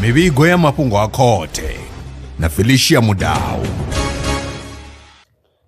mivhigo ya mafhungo a khothe na felicia mudau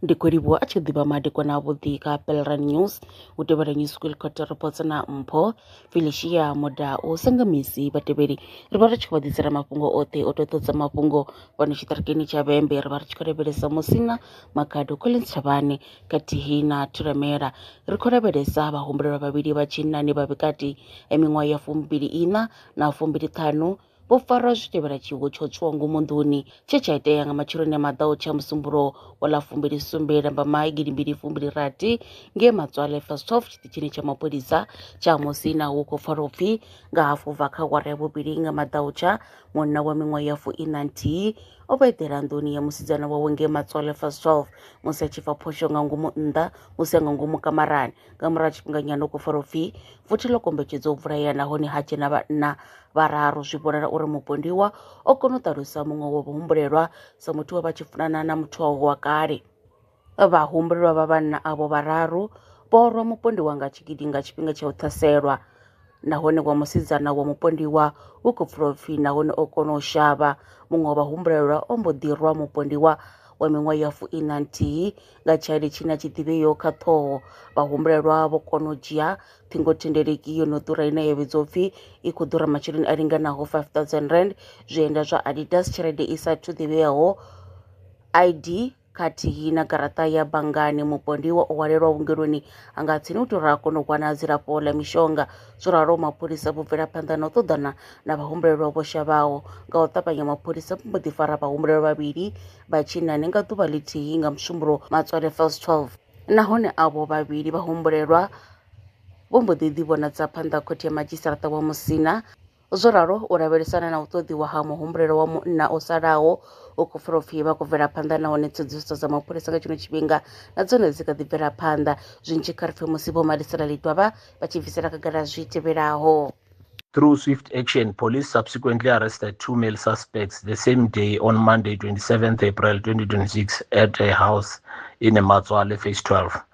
ndi khou livhuwa a tshi ḓivha madekwana avhuḓi ka pelran news u tevhela news school court reports na mpho felicia moda u senga misi vhatevheli ri vha ri tshi khou vha ḓisela mafhungo oṱhe o tou ṱodza mafhungo fhano tshiṱirikini tsha vhembe ri vha ri tshi khou lavhelesa musina makhado collins thavhane khathihi na Thulamela, ri khou lavhelesa vhahumbulelwa vhavhili vha tshinnani vha vhukati ha miṅwaha ya fumbili-iṋa na fumbili-ṱhanu vho farwa zwi tevhela tshiwo tsha u tswiwa ngomu nḓuni tshe tsha itea nga matsheloni a maḓaho tsha Musumbulowo wa ḽa fumbili-sumbe Lambamai gidi mbili fumbili-rathi ngei Matswale Fasthof tshiṱitshini tsha mapholisa tsha Musina hu khou pfala u pfi nga hafu bva kha awara ya vhuvhili nga maḓaho tsha munna wa miṅwaha ya fuiṋa-nthihi O vha eḓela nḓuni ya musidzana wawe ngei Matswale Fast 12 musi a tshi fa phosho nga ngomu nnḓa musi a nga ngomu kamarani. Nga murahu ha tshifhinganyana u khou farwa upfi vothi ḽo kombetshedza u vhulaya nahone ha dzhena vhanna vhararu zwi vhonala uri mupondiwa o kona u ṱalusa muṅwe wa vhahumbulelwa sa muthu we vha tshi funana na muthu wawe wa kale. Vhahumbulelwa vha vhanna avho vhararu vho rwa mupondiwa nga tshigidi nga tshifhinga tsha u ṱhaselwa, nahone wa musidzana wa mupondiwa u khou pfula upfi nahone o kona u shavha. Muṅwe wa vhahumbulelwa o mbo ḓi rwa mupondiwa wa miṅwaha ya fuiṋa nthihi nga tshaili tshine a tshi ḓivheyo kha ṱhoho. Vhahumbulelwa vho kona u dzhia ṱhingothendeleki yo no ḓura ine ya vhidzwa upfi i khou ḓura masheleni a linganaho 5000 rand, zwienda zwa Adidas, tshelede i sa thu ḓivheaho, ID, khathihi na garaṱa ya banngani mupondiwa o hwalelwa vhungeloni a nga tsini u tora a kona u wana dzilafho ḽa mishonga zwo ralo mapholisa vho bvela phanḓa na u ṱoḓana na vhahumbulelwa vho shavhaho nga u ṱavhanya mapholisa vho mbo ḓi fara vhahumbulelwa vhavhili vha tshinnani nga ḓuvha ḽithihi nga musumbulo matswale fels 12 nahone avho vhavhili vhahumbulelwa vho mbo ḓi ḓivhonadza phanḓa khothe ya madzhisiṱaraṱa wa musina Zwo ralo u lavhelesana na u ṱoḓiwa ha muhumbulelo wa munna o salaho u khou pfala upfhi vha khou bvela phanḓa nahone tsedzuluso dza mapholisa nga tshino tshifhinga na dzone dzi kha ḓi bvela phanḓa zwinzhi kha ri pfhe musi vho malisela lidwavha vha tshi bvisela khagala zwi tevhelaho Through swift action, police subsequently arrested two male suspects the same day on Monday 27th April 2026 at a house in Matswale, phase 12.